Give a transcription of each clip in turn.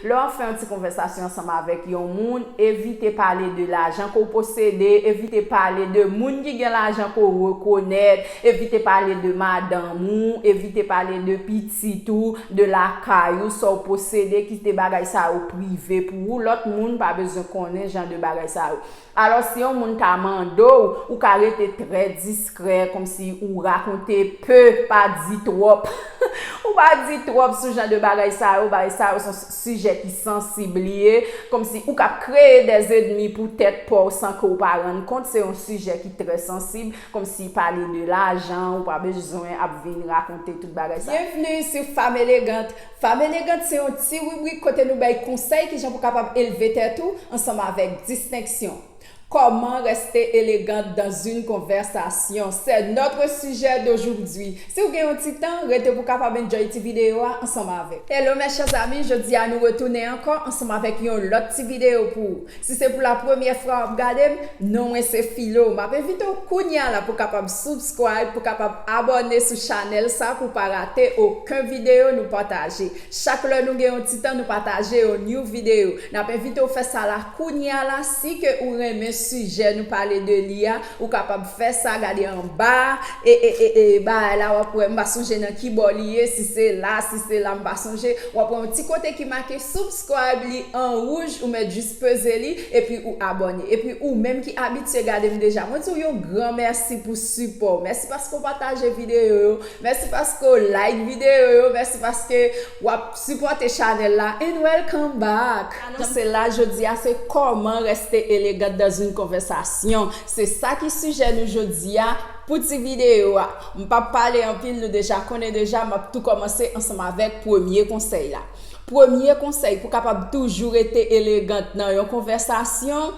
Lè w ap fè yon ti konvèsasyon ansanm avèk yon moun, evite pale de lajan ke w posede, evite pale de moun ki gen lajan ke w rekonèt, evite pale de madanm ou, evite pale de pitit ou, de lakay ou, sa w posede, kite bagay sa yo prive pou ou, lòt moun pa bezwen konnen jan de bagay sa yo. Alò si yon moun ta mande w, ou ka rete trè diskrè kòmsi ou rakonte pe, pa di twòp. Ou pa di twòp sou jan de bagay sa yo, bagay sa yo son sijè ki sansib li ye, kòmsi ou k ap kreye dè zedmi pou tèt pa w san ke w pa rann kont, se yon sijè ki trè sansib, kòmsi pale de lajan, ou pa bezwen ap vin rakonte tout bagay sa. Byenvni sou Fam Elegant! Fab Elegant se yon ti ribrik kote nou bay konsèy kijan pou kapab elve tèt ou ansanm avèk distenksyon. Comment rester élégante dans une conversation? c'est notre sujet d'aujourd'hui. Si ou gen yon ti tan, rete pou kapab enjoy ti videyo a ansanm avèk. Hello mes chers amis, jodi a nou retounen ankò ansanm avèk yon lòt ti videyo pou ou. Si se pou la premyè fwa wap gadem non mwen se filo map envite w kounya la pou kapab subscribe pou kapab abòne sou chanèl sa pou pa rate oken video nou pataje chak lè nou gen yon ti tan nou pataje yon new video nap envite w fè sa la kounya la si ke ou renmen sijè nou pale de li a ou kapab fè sa gade anba e e e e bagay la wap wè mpa sonje nan kibò li ye si se la si se la mpa sonje wap wè yon ti kote ki make subs. Subscribe li an rouj ou mèt jis peze li epi ou abòne epi ou menm ki abitye gade m deja mwen di w yon gran mèsi pou sipò w mèsi paske w pataje videyo yo mèsi paske w like videyo yo mèsi paske wap sipòte chanèl la and welcome back. Anonse la jodi a se Comment rester élégante dans une conversation se sa ki sijè nou jodi a pou ti videyo a m pap pale anpil nou deja konnen deja map tou kòmanse ansanm avèk premye konsèy la. Premye konsèy pou kapab toujou rete elegant nan yon konvèsasyon,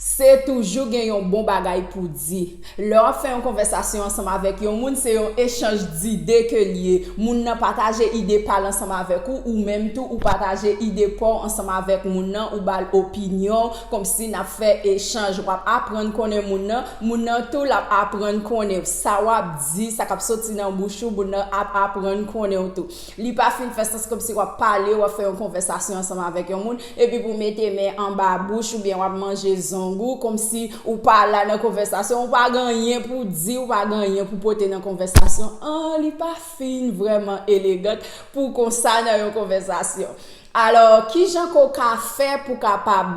se toujou gen yon bon bagay pou di. Lè w ap fè yon konvèsasyon ansanm avèk yon moun, se yon echanj dide ke l ye. Moun nan pataje ide pa l ansanm avèk ou, ou menm tou ou pataje ide pa w ansanm avèk moun nan, ou ba l opinyon w, konmsi n ap fè echanj. W ap aprann konnen moun nan, moun nan tou l ap aprann konnen w. Sa w ap di, sa k ap soti nan bouch ou, moun nan ap aprann konnen w tou. Li pa fin fè sans kòmsi w ap pale, w ap fè yon konvèsasyon ansanm avèk yon moun, epi pou w mete men anba bouch oubyen w ap manje zong ou, kòmsi ou pa la nan konvèsasyon, ou pa gen anyen pou w di, ou pa gen anyen pou w pote nan konvèsasyon an, li pa fin vrèman elegant pou w konsa nan yon konvèsasyon. Alò, ki jan ke w ka fè pou w kapab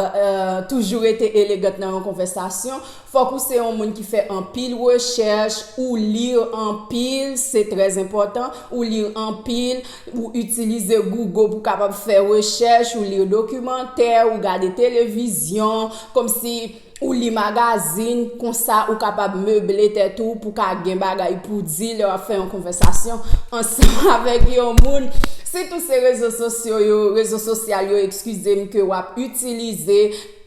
toujou rete elegant nan yon konvèsasyon? Fòk ou se yon moun ki fè anpil rechèch, ou li anpil, se trè enpòtan, ou li anpil, ou itilize Google pou w kapab fè rechèch, ou li dokimantè, ou gade televizyon, kòmsi. Ou li magazin, konsa ou kapab meble tèt ou pou ka gen bagay pou w di lè w ap fè yon konvèsasyon ansanm avèk yon moun. Sitou se rezo sosyo yo, rezo sosyal yo, ekskize m, ke w ap itilize,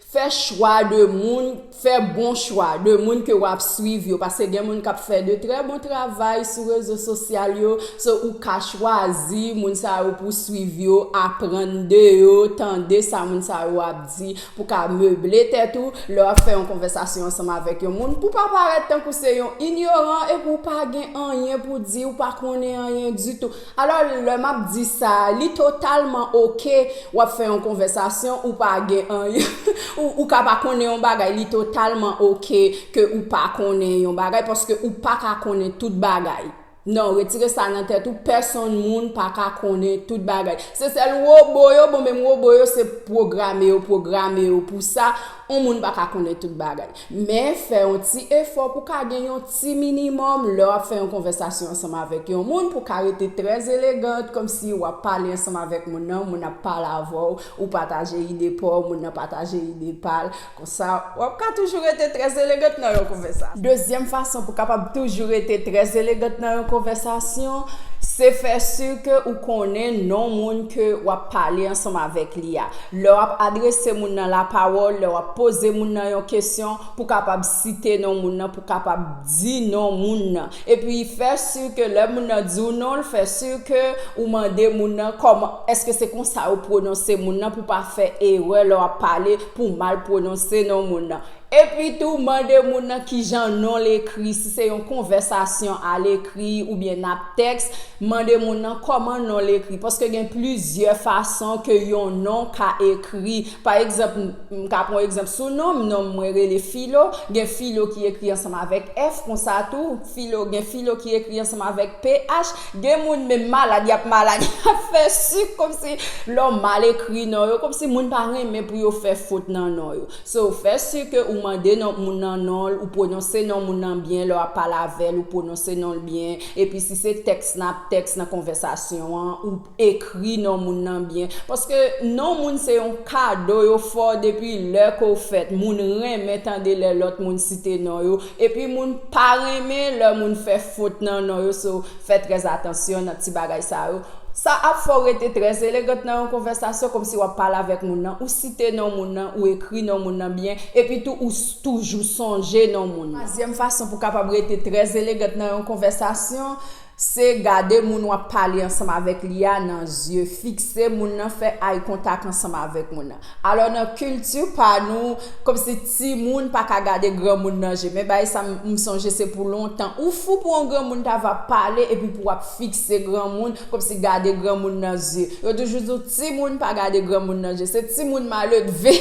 fè chwa de moun, fè bon chwa de moun ke w ap swiv yo. Paske gen moun k ap fè de trè bon travay sou rezo sosyal yo. So, ou ka chwazi moun sa yo pou w swiv yo, aprann de yo, tande sa moun sa yo ap di. Pou ka meble tèt ou lè w ap fè yon konvèsasyon ansanm avèk yon moun, pou pa parèt tankou se yon inyoran epi w pa gen anyen pou di, ou pa konnen anyen ditou. Alò, lè m ap di sa, li totalman oke w ap fè yon konvèsasyon, ou pa gen anyen, ou ka pa konnen yon bagay, li totalman oke ke ou pa konnen yon bagay, paske ou pa ka konnen tout bagay. Non retire sa nan tèt ou pèsonn moun paka konnen tout bagay se sèl robo yo bon menm robo yo se pwograme yo pwograme yo pou sa on moun paka konnen tout bagay men fè on ti efò pou ka gen yon ti minimòm lè wap fè yon konvèsasyon ansanm avèk yon moun pou ka rete trè elegant kòmsi wap pale ansanm avèk moun nan moun nan ap pale avèw ou pataje ide paw moun nan pataje ide pal Konsa, w ap ka toujou rete trè elegant nan yon konvèsasyon. Dezyèm fason pou w kapab toujou rete trè elegant nan yon konvèsasyon, se fè si ke ou konnen non moun ke w ap pale ansanm avèk li a. Lè w ap adrese moun nan lapawòl, lè w ap poze moun nan yon kesyon, pou w kapab site non moun nan, pou w kapab di non moun nan. Epi, fè si ke lè moun nan di w non l, fè si ke ou mande moun nan kòman, èske se konsa yo pwononse moun nan, pou w pa fè erè lè w ap pale, pou mal pwononse non moun nan. Epi tou, mande moun nan ki jan non l ekri, si se yon konvèsasyon alekri oubyen nap tèks, mande moun nan kòman non l ekri. Paske gen plizyè fason ke yon non ka ekri. Pa egzanp, m ka pran egzanp sou non m, non m mwen rele Filo, gen Filo ki ekri ansanm avèk F konsa tou. Filo gen filo ki ekri ansanm avèk ph gen moun menm malad yap malad yap fè sik komsi lè w mal ekri non yo komsi moun pa renmen pou yo fè fot nan non yo so fè si ke ou mande non moun nan non l ou pwononse non moun nan byen lè w ap pale avè l ou pwononse non l byen epi si se tèks nap tèks nan konvèsasyon an ou Ekri non moun nan byen paske non moun se yon kado yo fè w depi lè ke w fèt. Moun renmen tande lè lòt moun site non yo epi moun pa renmen lè moun fè fot nan non yo so fè trè atansyon nan ti bagay sa yo. Sa ap fè w rete trè elegant nan yon konvèsasyon kòmsi w ap pale avèk moun nan, ou site non moun nan, ou ekri non moun nan byen epi tou ou toujou sonje non moun nan. Twazyèm fason pou w kapab rete trè elegant nan yon konvèsasyon. Se gade moun w ap pale ansanm avèk li a nan zye, fikse moun nan, fè eye contact ansanm avèk moun nan. Alò nan kilti pa nou, kòmsi timoun pa ka gade granmoun nan je. Men bagay sa m sonje se pou lontan. Ou fou pou yon granmoun ta va pale epi pou w ap fikse granmoun kòmsi gade granmoun nan zye. Yo toujou di w. Timoun pa gade granmoun nan je se timoun maledve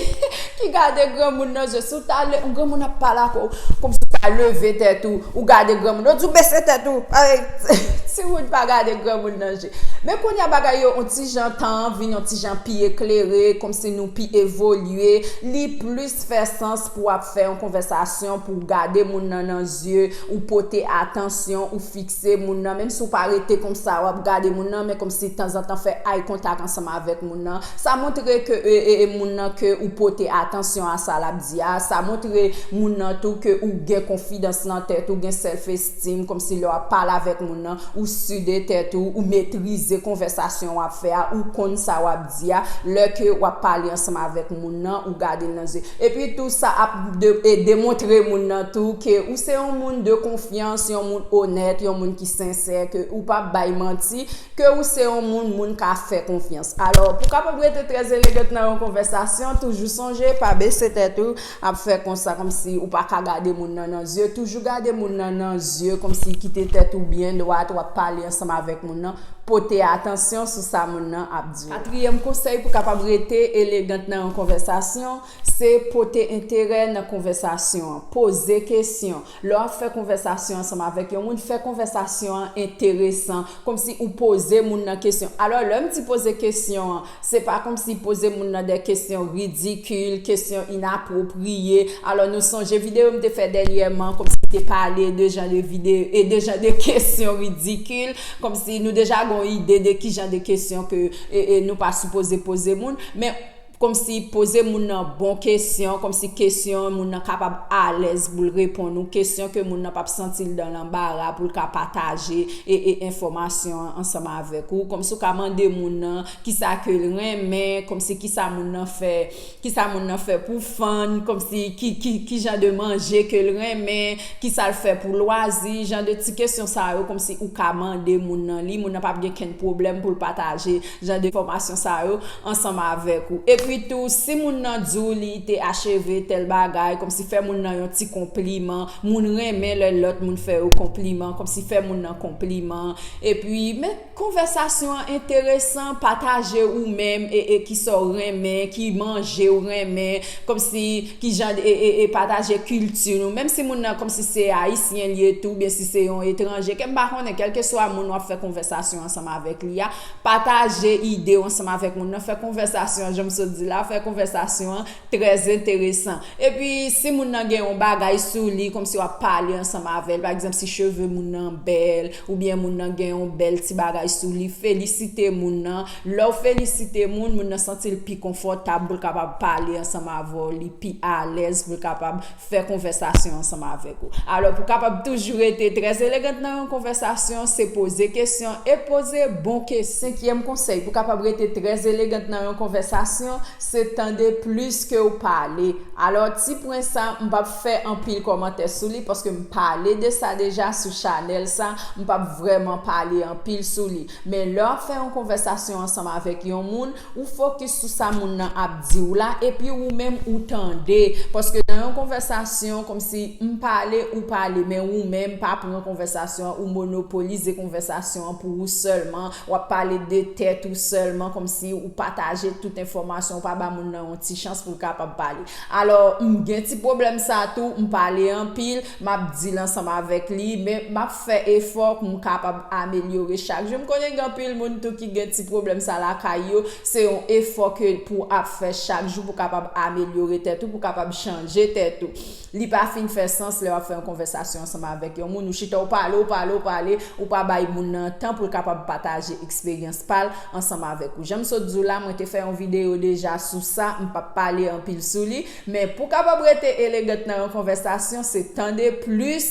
ki gade granmoun nan je si w ta le granmoun ap pale ak w komsi w ta leve tèt ou ou gade granmoun yo di w bese tèt ou timoun pa gade granmoun nan je men kounye a bagay yo on ti jan tan an vin on ti jan pi eklere komsi nou pi evolye li plis fè sans pou w ap fè yon konvèsasyon pou w gade moun nan nan zye ou pote atansyon ou fikse. Se moun nan menm si w pa rete konsa w ap gade moun nan men kòmsi tanzantan fè eye contact ansanm avèk moun nan sa montre ke moun nan ke ou pote atansyon a sa l ap di a sa montre moun nan tou ke ou gen konfidans nan tèt ou gen self esteem kòmsi lè w ap pale avèk moun nan ou su de tèt ou ou metrize konvèsasyon w ap fè a ou konn sa w ap di a lè ke wap pale ansanm avèk moun nan ou gadel nan zye epi tou sa ap demontre moun nan tou ke ou se yon moun de konfyans yon moun onèt yon moun ki sensè ke ou pap bay manti ke ou se yon moun moun ka fè konfyans alò pou kapab rete trè elegant nan yon konvèsasyon toujou sonje pa bese tèt ou Ap fè konsa komsi ou paka gade moun nan nan zye toujou gade moun nan nan zye komsi kite tèt ou byen dwat wap pale ansanm avèk moun nan pote atansyon sou sa moun nan ap diw. Katriyèm konsèy pou kapab rete elegant nan yon konvèsasyon se pote enterè nan konvèsasyon an poze kesyon Lè w ap fè konvèsasyon ansanm avèk yon moun, fè konvèsasyon an enteresan, kòmsi ou poze moun nan kesyon. Alò, lè m di poze kesyon an, se pa kòmsi poze moun nan dè kesyon ridikil, kesyon inapwopriye. Alò, nou sonje videyo m te fè dènyèman, kòmsi m te pale de jan de videyo, e de jan de kesyon ridikil, kòmsi nou deja gen yon ide de ki jan de kesyon ke nou pa sipoze poze moun. Men. Kòmsi poze moun nan bon kesyon, kòmsi kesyon moun nan kapab alèz pou l reponn ou, kesyon ke moun nan pap santi l dan lanbara pou l ka pataje e e enfòmasyon an ansanm avèk ou, kòmsi ou ka mande moun nan kisa ke l renmen, kòmsi kisa moun nan fè, kisa moun nan fè pou fann, kòmsi ki ki kijan de manje ke l renmen, kisa l fè pou lwazi, jan de ti kesyon sa yo kòmsi ou ka mande moun nan li, moun nan pap gen kenn pwoblèm pou l pataje. jan de fòmasyon sa yo ansanm avèk ou. Epi tou, si moun nan di w li te acheve tèl bagay, kòmsi fè moun nan yon ti konpliman, moun renmen lè lòt moun fè yo konpliman, kòmsi fè moun nan konpliman, epi men konvèsasyon an enteresan, pataje ou menm e e kisa w renmen, ki manje ou renmen, kòmsi ki jan de e e pataje kilti nou, menm si moun nan kòmsi se ayisyen li ye tou, oubyen si se yon etranje, ke m pa konnen, kèlkeswa moun w ap fè konvèsasyon ansanm avèk li a, Pataje ide w ansanm avèk moun nan, fè konvèsasyon an, jan m sot di la, fè konvèsasyon an trè enteresan. Epi, si moun nan gen yon bagay sou li, kòmsi w ap pale ansanm avè l, pa egzanp, si cheve moun nan bèl, oubyen moun nan gen yon bèl ti bagay sou li, felisite moun nan. Lè w felisite moun, moun nan santi l pi konfòtab pou l kapab pale ansanm avè w, li pi alèz pou l kapab. fè konvèsasyon ansanm avèk ou. Alò, pou kapab toujou rete trè elegant nan yon konvèsasyon, se poze kesyon e poze bon kesyon. Senkyèm konsèy pou kapab rete trè elegant nan yon konvèsasyon, se tande plis ke ou pale. Alò, ti pwen sa, m pa p fè anpil kòmantè sou li, paske m pale de sa deja sou chanèl sa, m pa p vrèman pale anpil sou li. Men lè w ap fè yon konvèsasyon ansanm avèk yon moun, ou fokis sou sa moun nan ap di w la epi ou menm ou tande. Paske nan yon konvèsasyon, kòmsi m pale, ou pale, men ou menm pa pran konvèsasyon an, ou monopolize konvèsasyon an pou ou sèlman, w ap pale de tèt ou sèlman, kòmsi ou pataje tout enfòmasyon, ou pa ba moun nan yon ti chans pou l kapab pale. Alò, m gen ti pwoblèm sa tou, m pale anpil, M ap di l ansanm avèk li, men m ap fè efò pou m kapab amelyore chak jou. M konnen gen anpil moun tou ki gen ti pwoblèm sa lakay yo. Se yon efò ke pou ap fè chak jou pou kapab amelyore tèt ou, pou kapab chanje tèt ou. Li pa fin fè sans lè w ap fè yon konvèsasyon ansanm avèk yon moun, ou chita ou pale, ou pale, ou pale, ou pa bay moun nan tan pou l kapab pataje eksperyans pa l ansanm avèk ou. Jan m sot di w la, mwen te fè yon videyo deja sou sa, m p ap pale anpil sou li. Men, pou kapab rete elegant nan yon konvèsasyon, se tande plis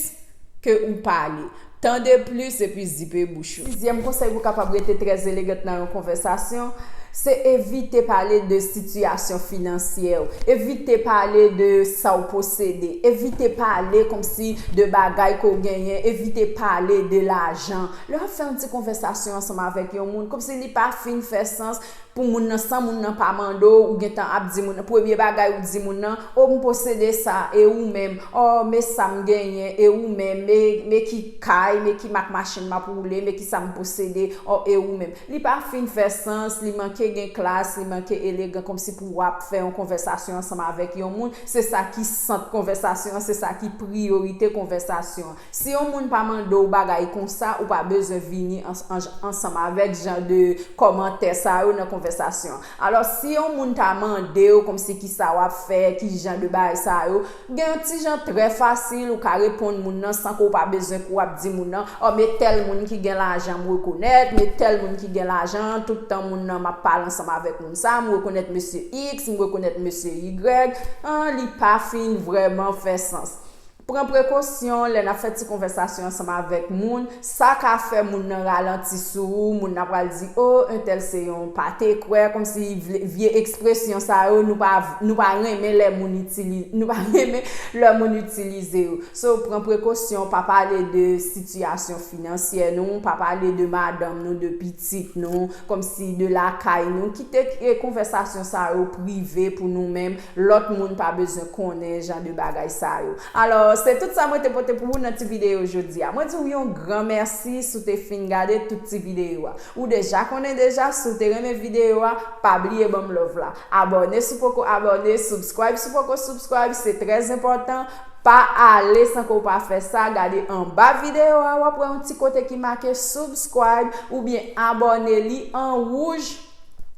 ke ou pale. Tande plis epi zipe bouch ou. Sizyèm konsèy pou kapab rete trè elegant nan yon konvèsasyon, se evite pale de sitiyasyon finansyè ou, evite pale de sa ou posede, evite pale kòmsi de bagay ke ou genyen, evite pale de lajan. Lè w ap fè yon ti konvèsasyon ansanm avèk yon moun, kòmsi li pa fin fè sans, pou moun nan san moun nan pa mande w, ou gentan ap di moun nan, premye bagay ou di moun nan, o m posede sa, e ou menm, o me sa m genyen, e ou menm, me, me ki kay, me ki mak machin m ap woule, me kisa m posede, o e ou menm. Li pa fin fè sans, li manke gen klas, li manke elegan kòmsi pou w ap fè yon konvèsasyon ansanm avèk yon moun, se sa ki sant konvèsasyon an, se sa ki priyorite konvèsasyon an. Si yon moun pa mande w bagay konsa ou pa bezwen vini ansanm avèk jan de kòmantè sa yo nan konvèsasyon an. Alò si yon moun ta mande w kòmsi kisa wap fè, ki jan de bagay sa yo, gen yon ti jan trè fasil ou ka reponn moun nan san ke w pa bezwen ke w ap di moun nan, ò me tèl moun ki gen lajan m rekonèt, me tèl moun ki gen lajan, tout tan moun nan map pale ansanm avèk moun sa, m rekonèt mesye Iks, m rekonèt mesye Yigrèg, an li pa fin vrèman fè sans. Pran prekosyon lè n ap fè ti konvèsasyon ansanm avèk moun, sa ka fè moun nan ralanti sou ou, moun nan pral di o entèl se yon pate kwè, kòmsi vle vye ekspresyon sa yo nou pa nou pa renmen lè moun itili nou pa renmen lè moun itilize yo. So pran prekosyon pa pale de sitiyasyon finansyè nou, pa pale de madanm nou, de pitit nou, kòmsi de lakay nou, kite konvèsasyon sa yo prive pou nou menm, Lòt moun pa bezwen konnen jan de bagay sa yo. Alò, se tout sa mwen te pote pou ou nan ti videyo jodi a. Mwen di ou yon gran mèsi si w te fin gade tout ti videyo a. Ou deja konnen deja, si w te renmen videyo a, pa bliye ban m love la. Abòne si w poko abòne, subscribe si w poko subscribe, se trè enpòtan, pa ale san ke w pa fè sa, gade anba videyo a w ap wè yon ti kote ki make subscribe oubyen abòne li an wouj,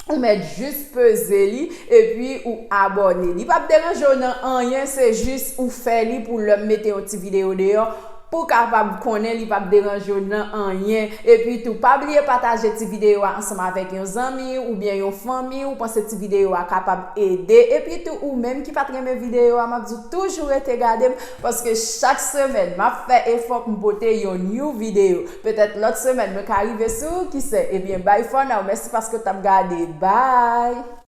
ou mèt jis peze li epi ou abòne li pap deranjew nan anyen se jis ou fè li pou lèm mete yon ti video deyò pou kapab konnen li pap deranjew nan anyen epi tou pa bliye pataje ti video a ansanm avèk yon zanmi oubyen yon fanmi ou panse ti video a kapab ede epi tou ou menm ki pat renmen video a map diw toujou rete gadem paske chak semèn map fè efò poum pote yon new video. Petèt lòt semèn mwen ka rive sou, kise? Ebyen bye for now mèsi paske w t ap gade. Bye!